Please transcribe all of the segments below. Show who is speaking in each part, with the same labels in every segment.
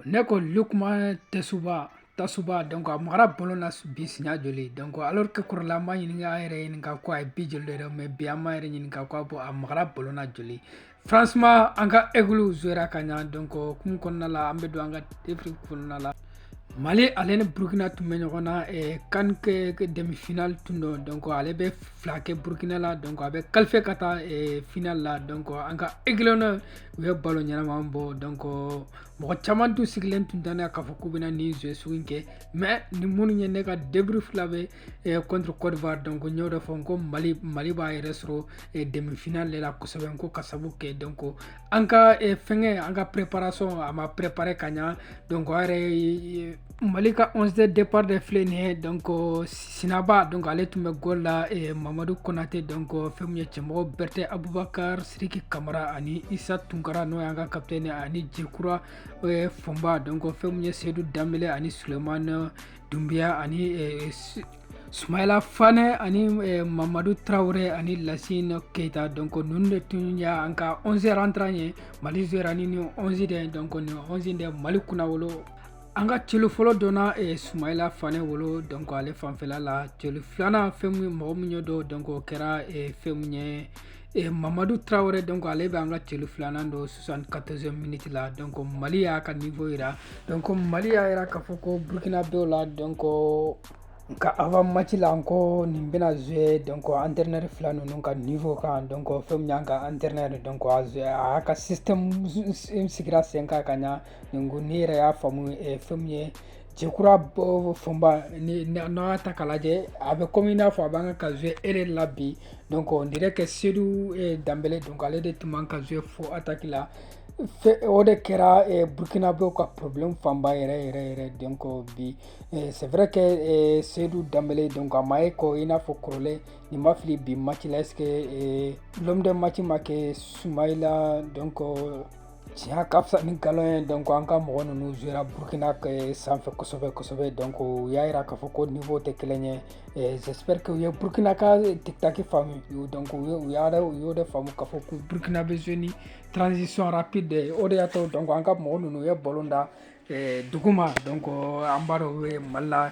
Speaker 1: ne ko lukuma tɛsuba tasuba donc a magara ballon na bi siɲɛ joli donc alors que kɔrɔlen an bɛ ɲini an yɛrɛ ɲininka ko a ye bi joli de don mais bi an b'an yɛrɛ ɲininka ko a bɔ a magara ballon na joli franchement an ka aiglons jouera ka ɲa donc kɛnɛ kɔnɔna la an bɛ don an ka débrief kɔnɔna la mali ale ni burukina tun bɛ ɲɔgɔn na eh, CAN demifinali tun don donc ale bɛ fila kɛ burukina la donc a bɛ qualifier ka taa eh, finali la donc an ka aiglons u ye ballon ɲɛnama bɔ donc mɔgɔ caman tun sigilen tun tɛ n'a ye k'a fɔ k'u bɛna nin jouer sugu in kɛ mais ni minnu ye ne ka débrief lamɛn eh, contre cote d'ivoire donc n y'o de fɔ ko mali mali b'a yɛrɛ sɔrɔ eh, demi final de la kosɛbɛ n ko k'a sabu kɛ donc an ka eh, fɛngɛ an ka préparation a ma préparer ka ɲa donc a yɛrɛ Mali ka 11 de départ de filɛ nin ye donc sinaba donc ale tun bɛ goal la mamadu kɔnatɛ donc fɛn min ye cɛmɔgɔ berete abubakari siriki kamara ani isa tunkara n'o y'an ka capitaine ani jekura fonba donc fɛn min ye seyidu danbele ani sulemani dunbiya ani sumayla fane ani mamadu tarawele ani lasinɔ keyita donc ninnu de tun y'an ka 11 rentrant ye mali jouera ni nin 11 de donc nin 11 de mali kunnawolo An ka celu fɔlɔ donna sumayla fane bolo donc ale fanfɛla la celu filanan fɛn ye mɔgɔ min y'o don donc o kɛra fɛn min ye mamadu tarawele donc ale bɛ an ka celu filanan don soixante-quatorze miniti la donc mali y'a ka niveau jira donc mali y'a jira k'a fɔ ko burukinana dɔw la donc nka avant mati la n ko nin bɛna jouer donc entraîneur fila ninnu ka niveau kan donc fɛn min an ka entraîneur donc a y'a ka sigi a sen kan ka ɲɛ Donc ne yɛrɛ y'a faamu eh, fɛn min ye jɛkura fonba ni n'an y'a ta k'a lajɛ a bɛ komi i n'a fɔ a bɛ ka ka jouer aile de la bi donc on dirait que sedu eh, danbele donc ale de tun bɛ ka jouer fo ataki la o de kɛra eh, burkinabew ka problème fanba yɛrɛ yɛrɛ yɛrɛ donc bi eh, c'est vrai que eh, sedu danbele donc a ma ye ko i n'a fɔ kɔrɔlen ni n ma fili bi match la est ce que eh, l'homme de match ma kɛ sumayila donc tiɲɛ ka fisa ni nkalon ye donc an ka mɔgɔ ninnu jouera burkina eh, sanfɛ kosɛbɛ kosɛbɛ donc u y'a yira k'a fɔ ko niveau tɛ kelen ye eh, j'espère que u ye burkina ka tiktaki faamu donc u y'a u y'o de faamu k'a fɔ ko burkina bɛ jouer ni transition rapide de o de y'a to donc an ka mɔgɔ ninnu u ye ballon da eh, duguma donc an b'a dɔn u bɛ mali la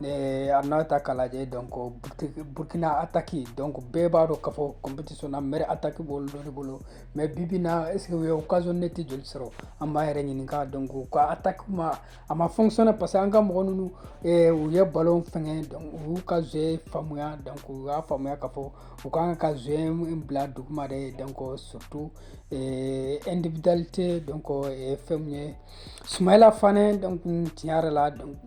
Speaker 1: n'an y'a ta k'a lajɛ donc burkina attaque donc bɛɛ b'a dɔn k'a fɔ compétition na meilleure attaque b'olu dɔ de bolo mais bi bi in na est ce que u ye occasion nette joli sɔrɔ an b'an yɛrɛ ɲininka donc u ka attaque ma a ma fonctionner parce que an ka mɔgɔ ninnu u ye ballon fɛngɛ donc u y'u ka jeu faamuya donc u y'a faamuya k'a fɔ u ka kan ka jeu in bila duguma de donc surtout individualité donc fɛn min ye sumayila fane donc tiɲɛ yɛrɛ la donc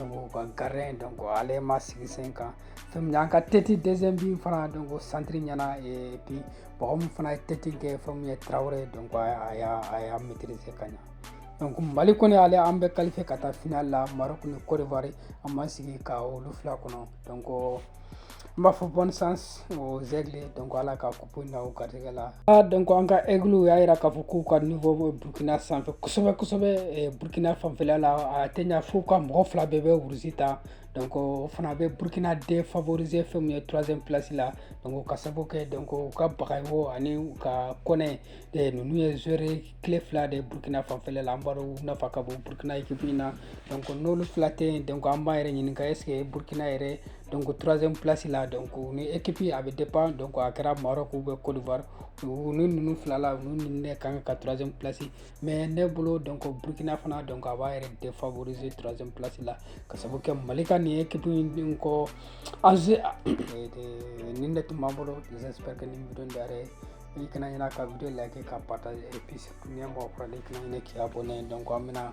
Speaker 1: u ka gardien donc ale ma sigi sen kan fɛn min an ka tɛti deuxième bi fana donc centre ɲɛna et puis mɔgɔ min fana ye tɛti kɛ fɛn min ye tarawele donc a y'a a y'a maîtriser ka ɲa donc mali kɔni ale an bɛ qualifier ka taa final la maroc ni côte d'ivoire an b'an sigi ka olu fila kɔnɔ donc n b'a fɔ bonne chance aux aigles donc ala ka kupu na u garijɛgɛ la ah, donc an ka aiglew y'a yira k'a fɔ k'u ka niveau bɛ burkina sanfɛ kosɛbɛ kosɛbɛ eh, burkina fanfɛla la a tɛ ɲa f'u ka mɔgɔ fila bɛɛ bɛ rouge ta donc o fana bɛ burkina défavoriser fɛn min ye troisième place la donc ka sabu kɛ donc u ka bagayɔgɔ ani u ka kɔnɛ eh, ninnu ye joueur clé fila de burkina fanfɛla la an b'a dɔn u nafa ka bon burkina ekipu in na donc n'olu fila tɛ yen donc an b'an yɛrɛ ɲininka est ce que burkina yɛrɛ donc troisième place la donc ni ekipi a bɛ dépend donc a kɛra Maroc ou Côte d'Ivoire u ni ninnu fila la u ni ne ka kan ka troisième place mais ne bolo donc Burkina fana donc a b'a yɛrɛ défavoriser troisième place la ka sabu kɛ Mali ka nin ekipi in kɔ en gros nin de tun b'an bolo j'espère que nin video in diyara i ye i kana ɲinɛ ka video like k'a partager et puis surtout n'i ye mɔgɔ kura dɔ ye i kana ɲinɛ k'i abonner donc an bɛna